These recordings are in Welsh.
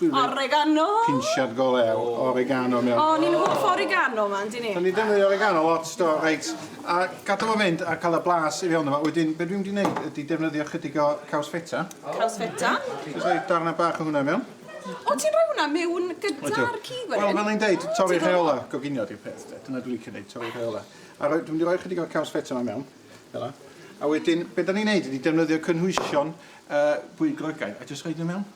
Oregano! Pinsiad go lew oregano mewn. O, ni'n hoff o oregano yma, yndyn ni? Dan ni'n defnyddio oregano lot, do, reit. A gadael fo fynd a cael y blas i fewn yma. Wedyn, be dwi'n mynd i wneud ydy defnyddio chydig o caws feta. Caws feta. Jyst rhoi darnau bach o hwnna i mewn. O, ti'n rhoi hwnna mewn gyda'r cig wedyn? Wel, fel o'n i'n deud, torri rheola goginio di'r peth, de. Dyna dwi'n licio neud, torri rheola. A rhoi, dwi'n mynd i roi chydig o'r caws feta yma mewn, fel yna. A wedyn, be dan ni'n neud ydy defnyddio cynhwysion bwyd Groegaidd a jyst rhoi nhw mewn.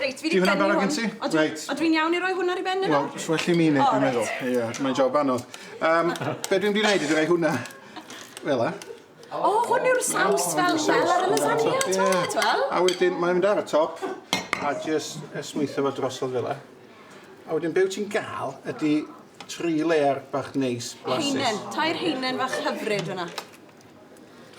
Reit, fi 'di prynu hwn. Ti hwnna barod gen ti? Odw. Reit. Odw i'n iawn i roi hwn ar 'i ben nawr? Wel, swell i mi neud dwi'n meddwl. O reit. Ia, mae'n job anodd. Yym, be' dwi'n mynd i neud ydi roi hwnna fel 'a. O, hwn yw'r saws fel fel ar y lasagna, t'mod, t'wel'? A wedyn mae'n mynd ar y top a jyst esmwytho fo drosodd fel 'a. A wedyn be' wyt ti'n ga'l ydi tri layer bach neis blasus. Haenen, tair haenen fach hyfryd fan 'na.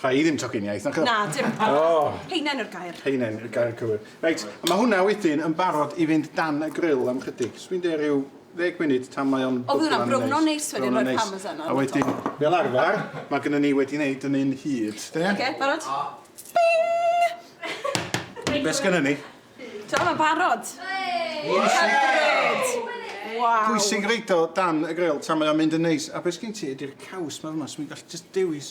Rha i ddim tocyn iaith, nac o? Na, dim. Oh. Heinen yw'r gair. Heinen yw'r gair cywir. Reit, a mae hwnna wedyn yn barod i fynd dan y grill am chydig. Swi'n de rhyw ddeg munud tan mae o'n... Oedd hwnna'n browno neis wedyn o'r parmesan A wedyn, fel arfer, mae gennym ni wedi wneud yn un hyd, de? Oce, barod? Bing! Be sgynnon ni? Ti'n iawn? Barod? Pwysig roid o dan y gril tan mae o'n mynd yn neis. A be' sgin ti ydi'r caws 'ma fyma so fi'n gallu jyst dewis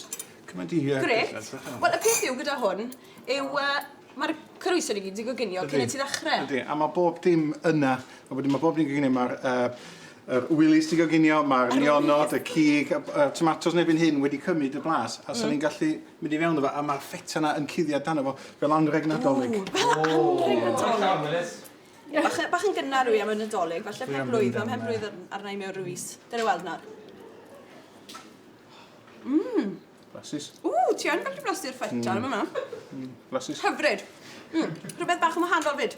cymaint o hir... Grêt. Wel y peth yw gyda hwn yw yy ma'r coese i gyd 'di goginio cyn i ti ddechre. Yndi a ma' bob dim yna a wedyn ma' bob dim 'di goginio ma'r yy yr wilis 'di goginio ma'r nionod y cig y b- yy tomatos yn erbyn hyn wedi cymyd y blas a so ni'n gallu Mynd i fewn efo a ma'r ffeta 'na yn cuddiad dano fo fel anreg Nadolig. Ww fel anreg Nadolig. Ie bach yy bach yn gynnar yw 'i am y Nadolig falle pen-blwydd a mhen-blwydd ar- arna i mewn ryw fis. Gawn ni weld nawr. Mmm. Blasus. Ww ti yn gallu blasu'r ffeta yn fana. Hmm blasus. Hyfryd. Hmm rhwbeth bach yn wahanol 'fyd.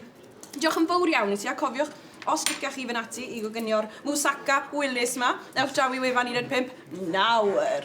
Diolch yn fowr iawn i ti a cofiwch os liciach chi fyn' ati i goginio'r moussaka Wilys 'ma ewch draw i wefan un un pump nawr.